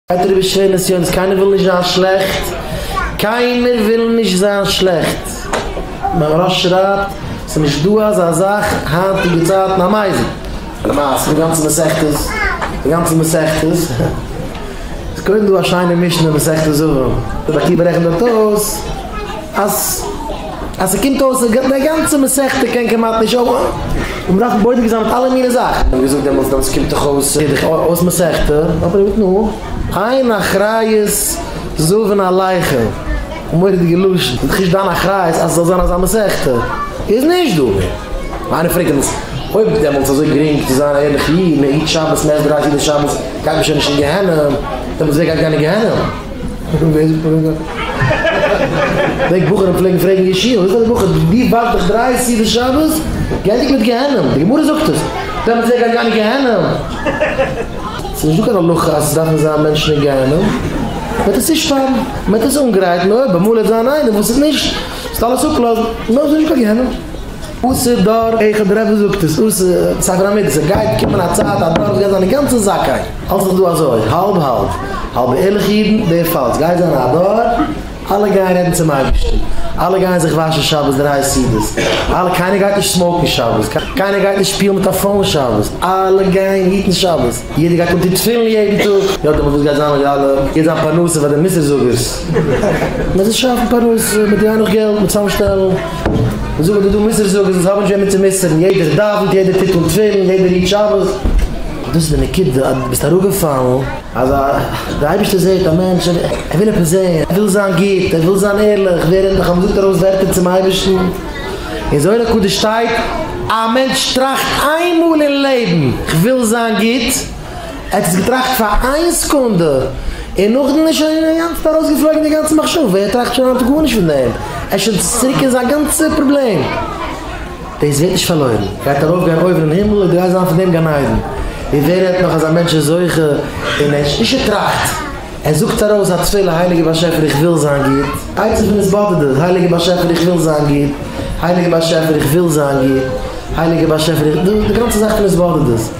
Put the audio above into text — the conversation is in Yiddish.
עטרה וישרי נסיונות קיינער וויל נישט זיין שלעכט, קיינער וויל נישט זיין שלעכט, מהרש שרייבט ס'איז נישט דא אזא זאך היינטיגע צייטן א מייזל, למעשה די גאנצע מסכת די גאנצע מסכת איז קודם דא א שיינע משנה מסכת זבא רבי עקיבא רעכנט דארט אויס אז. אז ס'קומט אויס אז די גאנצע מסכתא קען כמעט נישט אויף און מ'דארף בודק זיין מיט אלע מיני זאכן. כ'האב געזאגט דעמאלטס דעמאלטס קומט דאך אויס איז דאך אויס מסכתא האט ער געזאגט נו איין אחריות זוון עליך און מורא'דיגע לשון איז דאך נישט דיין אחריות אז ס'זאל זיין אזא מסכתא איז נישט דא מער. איינער פרעגט דעמאלטס אויב דעמאלטס איז אזוי גרינג צו זיין א ערליכע איד מ'היט שבת מ'עסט דרײַ סעודות שבת גייט מען שוין נישט אין גיהנום דעמאלטס ווער גייט גיין אין גיהנום? פון ווער זאגט מען דאס? פלעגט בחורים פלעגן פרעגן אין שול, וואס איז דער בחור די ווארט דיך דריי סעודות שבת? גענדיגט מיט גיהנום, די גמרא זאגט עס, דעמאלטס ווער גייט גיין אין גיהנום? ס'איז נישטא קיין הלכה אז ס'דארפן זיין מענטשן אין גיהנום, מ'העט עס צושפארן, מ'העט עס אנגרייטן, אויב אמאל וועט זיין איינער וואס איז נישט, זאלסטו אלעס אפלאזן, נאך איז נישטא קיין גיהנום. אסור דור איכה דרבה זאגט עס, אסור, ספר המידות, ס'גייט קומען א צייט אז דור וועט זיין אינגאנצן זכאי. האלט זיך דא אזוי האלב האלב, האלב ערליכע אידן, דער פאלס גייט זיין א דור, אלע גייען רעדן צום אייבערשטן, אלע גייען זיך וואשן שבת דריי סעודות, אלע קיינער גייט נישט סמאוקן שבת, קיינער גייט נישט שפילן מיט א פאון שבת, אלע גייען היטן שבת, יעדער גייט אנטון תפילין יעדן טאג, יא דעמאלט וואס גייט זיין מיט די אלע, גייט זיין פרנסה פאר די מוסר זאגערס, מען וועט שאפן פרנסה, מען וועט האבן נאך געלט, מען וועט צאם שטעלן, מען זאגט אז דא מוסר זאגערס וואס האבן נישט וועמען צו מוסר'ן, יעדער דאווענט, יעדער טוט אן תפילין, יעדער היט שבת. דאס איז די נקודה אז דו ביסט אראפגעפאלן. אז די אייבערשטער זעט א מענטש, ער וויל עפעס זען, ער וויל זיין גוט, ער וויל זיין ערליך ווערן, דאך אז מען זאגט ארויס ווערטער צום אייבערשטן, אין זוהר הקדוש שטייט, א מענטש טראכט איינמאל אין לעבן, כ'וויל זיין גוט, ער האט עס געטראכט פאר איין סעקונדע, און נאכדעם איז שוין אינגאנצן ארויסגעפלויגן די גאנצע מחשבה, ער טראכט שוין היינט גארנישט פון דעם, ער איז שוין צוריק אין זיין גאנצע פראבלעם. דאס ווערט נישט פארלוירן, גייט ארויף גיין אויבערן הימל און גרייט זיין פון דעם גן עדן, און ווער רעדט נאך אז א מענטש איז זוכה און ער נישט ער טראכט, ער זאגט ארויס א תפלה הייליגער באשעפער איך וויל זיין גוט, עצה פון התבודדות, הייליגער באשעפער איך וויל זיין גוט, הייליגער באשעפער איך וויל זיין גוט, הייליגער באשעפער איך, דו די גאנצע זאך פון התבודדות.